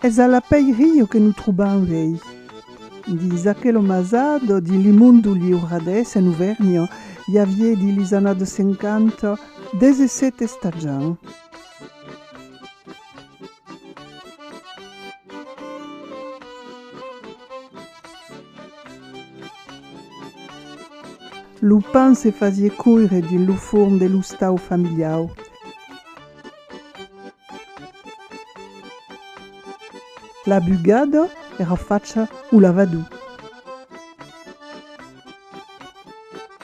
Es a la pèi rio que nos trobam vei. Dins aquel omazat di Limundo Liuradés en Auvergna i avié dins lis anades 50 17 estatjants. Lo pan se fasie coire dins lo forn de l'ostau familiau. La bugada èra facha o lavadou.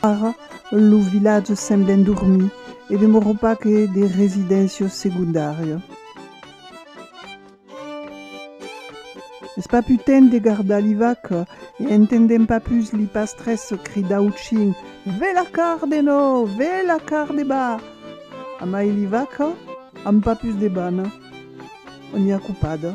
Ara, lo vilatge semble endormir e demòra pas que de residéncias segondàrias. Es pas pus temps de gardar li vaca e entendèm pas pus li pastres cridar au chin, Ve la carde no! Ve la carde ba! Amai li vaca an pas pus de bana. On i a copada.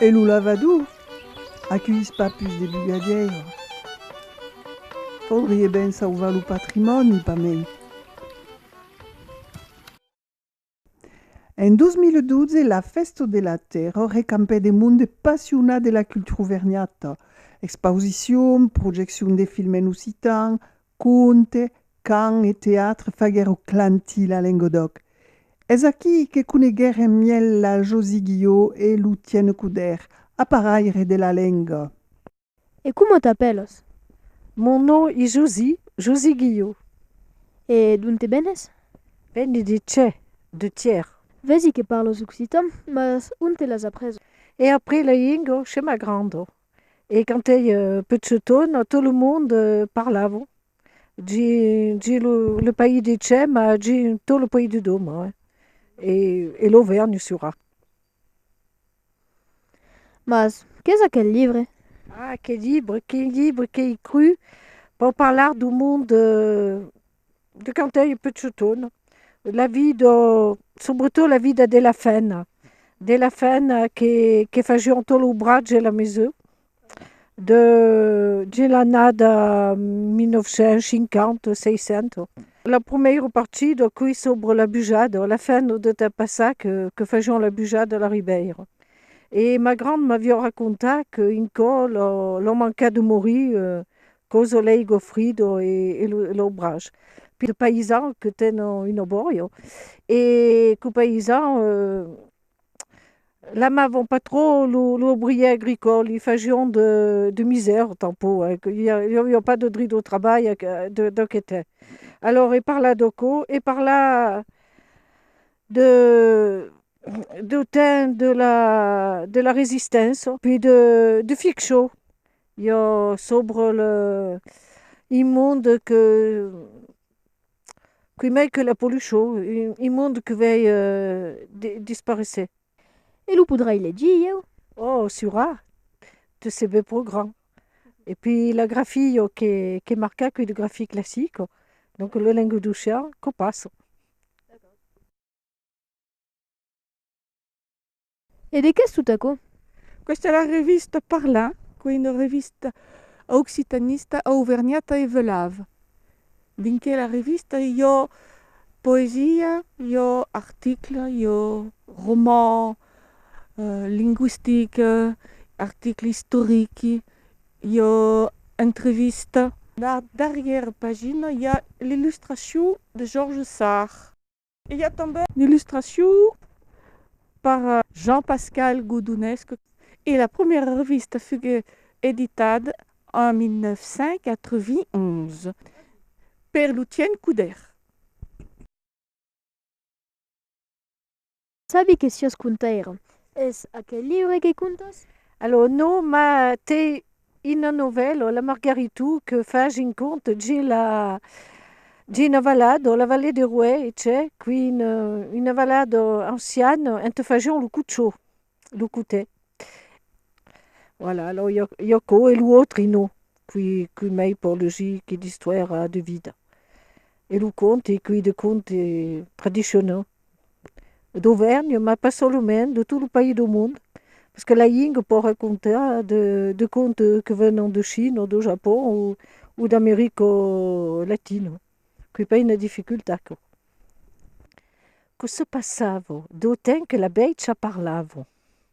E lo lavador? Acuís pas pus de bugadièira? Faudrie ben sauvar lo patrimòni, pas mei. En 2012, la Fèsta de la Tèrra recampèt un monde passionat de la cultura auvergnata, expausicion, projeccion de film en occitan, Conte, cant e teatre faguèro clantir la Lengodòc. Es aquí que coneguèrem mièlh la Josy Guió e lo Tiène Coudèr, aparaire de la lenga. E coma t'apèlas? Mon nò es Josy, Josy Guió. E donte venes? Veni de cè, de Tièr. Vèsi que parlas occitan, mas onte l'as aprés? È après la lenga che m'agranda. E quand ei pechetona tot lo monde parlava dins lo país de chè ma dins tot lo país de doma e lo vèrn surà. Mas qu'es aquel libre? Ah, que libre, que libre qu'ei crut per parlar d'un monde de quand ei pecciuton, la vido, subretot la vida de la fèna, de la fèna que fajión tot lo bratge e la mesur, de dins l'annada 1950, 60. Lo prumèiro partido quei sobre la bujada, la fèna de temps passat que fajión la bujada a la Ribèira. E ma grand m'avió racontà que un cò l'ò mancat de morir Coso lei Goffrido e lo brach. Pir paisau que ten un oborio e co paisau l'amavan pas trò lo obrier agricòl, li fajion de misèr tanpò, li avion pas de drit au trabalh deu que ten. Alòr e parla de co? E parla deu temps de la resistença, puis de Fixó, Yo sobre le un monde que qui mai que la pollucion un monde que vei disparesser. E lo podrai legir ieu? Oh sura, te se be pro grand. E pi la grafia jo qu'è marca cui de grafia classica, donc lo languedocian co passo. E de qu'es tot aquò? Questa la revista Parlar, qu'ei una revista occitanista auvergnata e veuláv. Dins quela revista i ò poesia, i ò article, i ò roman linguistic, article istoric, i ò entrevista. Dab darrièra pagina i a l'illustracion de Georges Sarr. I a tanben d'illustracion per Jean-Pascal Godonesc e la prumèra revista fugué editat en 1991 per Lucien Couder. Sabi que siás contaire. Es aquel liure que contas? Alò, non, mas t'ai Ina novèl o la Margaritu que fach un cont gin la gina valad o la vallée de Rouè e c'è qui una valad ancian ente fajion lo cucciò, lo cotè. Voilà alò i a co e lo autre no qui qui mei por legir qui d'istoira de vida e lo conte qui de conte tradicionau. d'Auvernhe, mas pas solament, de tot lo país dau mond, parce que la lingue pòt racontar de contes que venon de China, o do Japon, o d'America Latina, qu'i pas una dificultat aquò. Que se passava? Dau temps que la bèicha parlava.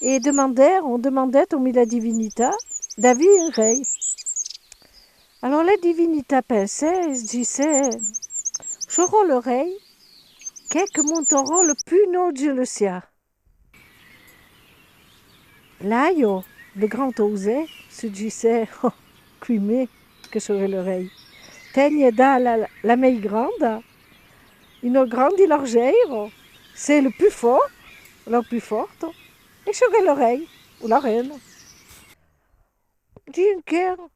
e demandèron, demandèt au mila divinita d'avir un rei. Alòr la divinita pensèt e disèt, J'aurò le rei qu'è que montarò le pus naut jeu le sià. Laio, le grand Auze, se disèt, Quimè que serè le rei? Tènhe dà la mei granda Ino grandi largeiro, se lo più fò, lo più forto, e çò qu'è lo rei o la rena. Dien qu'èra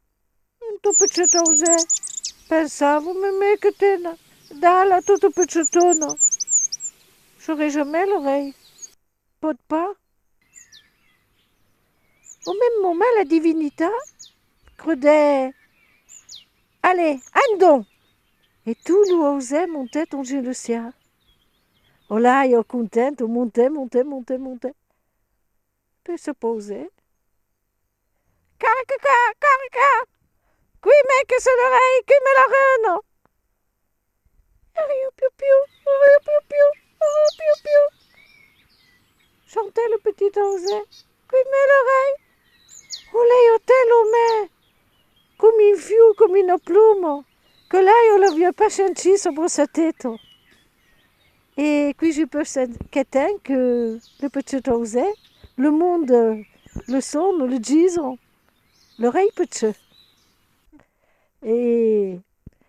into pecèt ausè, pensavo, memè que tena, dala, toto pecetona, çò qu'è jamè lo rei. Pòt pas. Au mèm moment la divinita crudè, Allè, an don! E tu lo ausè montet onge lo siá. Olà jo content, o montè, montè, montè, montè. Peu se pausè. Carca, ca, carca! Qui m'è que se ne rei, qui me la reno? Arriu, piu, piu, arriu, piu, piu, arriu, piu, piu. Chantè lo petit anzè, qui m'è le rei? O lei o te lo mè, com un fiu, com una pluma, que lei o l'avieu pas shentit sobre sa teta. E qui je peux sent qu'etain que le pechet ausè le monde le son le gison le rei pechet e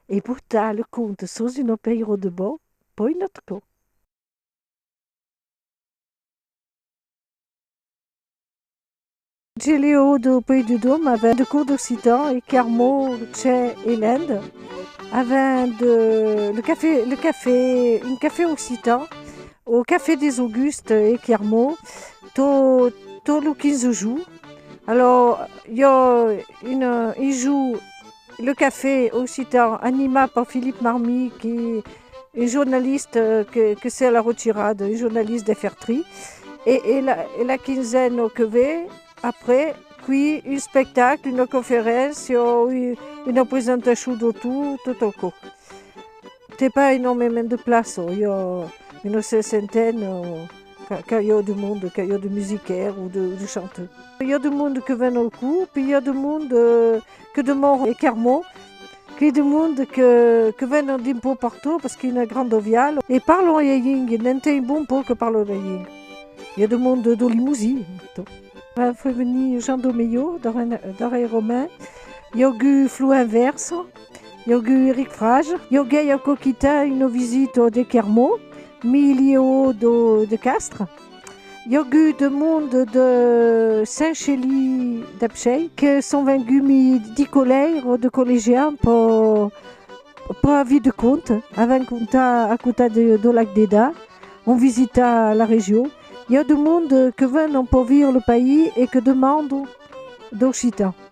e portar le conte sos un opeiro de bon poi not co. Giliu de Puy de Dôme avèn de cours d'occitan e Carmo, Chè e Lènde avèn de le café, le café, un café occitan au café des Augustes e Carmo to tot lo 15 de junh. Alò jo un un junh Le Café occitan animat per Philippe Marmi qui un jornaliste que se la retirada, un jornaliste de Fertri e la quinzena que ve après qui un spectacle, una conferéncia o una presentacion d'autor tot au cò. T'ai pas enormement de plaça, i a una sesentena qu'a ieu de monde, qu'a ieu de musicaires o de chanteurs. I a de monde que ven au cò, poi i a de monde. que de Mont e Carmau, qu'ei de monde que venen d'un pau partout parce qu'ei una granda vial e parlan ua lenga, n'en t'ei un bon pau que parla ua lenga. Ei de monde dau Limousin, tò. Quan foi venir Jean dau Melhor, d'ora ei Romain, i augu Floin Verso, i augu Eric Frage, i auguei aquò quitat una visita de Carmau, mi li eau de Castres. Iò gu de monde de Saint Chelly d'Epshei que son vengu mi di coleir o de collegiar un po po a vi de cont avèn conta a cota de do lac d'Eda on visita la region iò de monde que vèn un po vir le país e que demando d'occitan.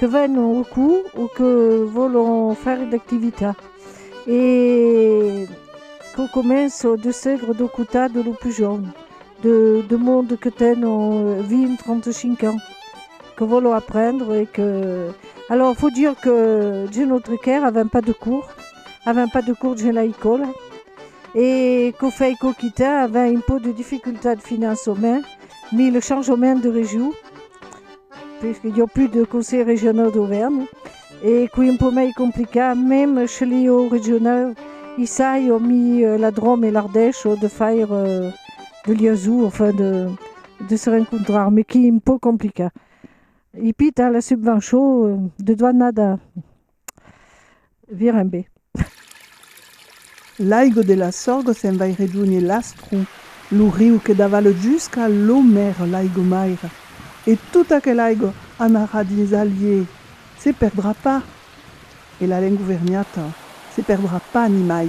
que vèn au cours o que vòlon faire d'activitat e qu'au començo de segre de cotar de lo pus jorn de monde que ten 20-35 ans que vòlon aprendre e que alors faut dire que dins notre caire avèm pas de cours avèm pas de cours dins l'ecòla e qu'au fèi qu'oquitan avèm un pauc de dificultat financement mi le changement de region Perque i a plus de conseil regional d'Auvergne e qui un peu mei complicat, mem che li au regional i sai au mi la Drome e l'Ardèche au de faire de liaison, enfin de de se rencontrar, me qui un peu complicat. I pita la subvençon de doanada. Viren be. L'aigo de la Sorgo se'n vai redonhe l'Astru, lo riu que davala jusca lo maire l'aigo maire. E tota aquela aigo anarà dins Allier, se perdrà pas. E la lengo verniata se perdrà pas nimai.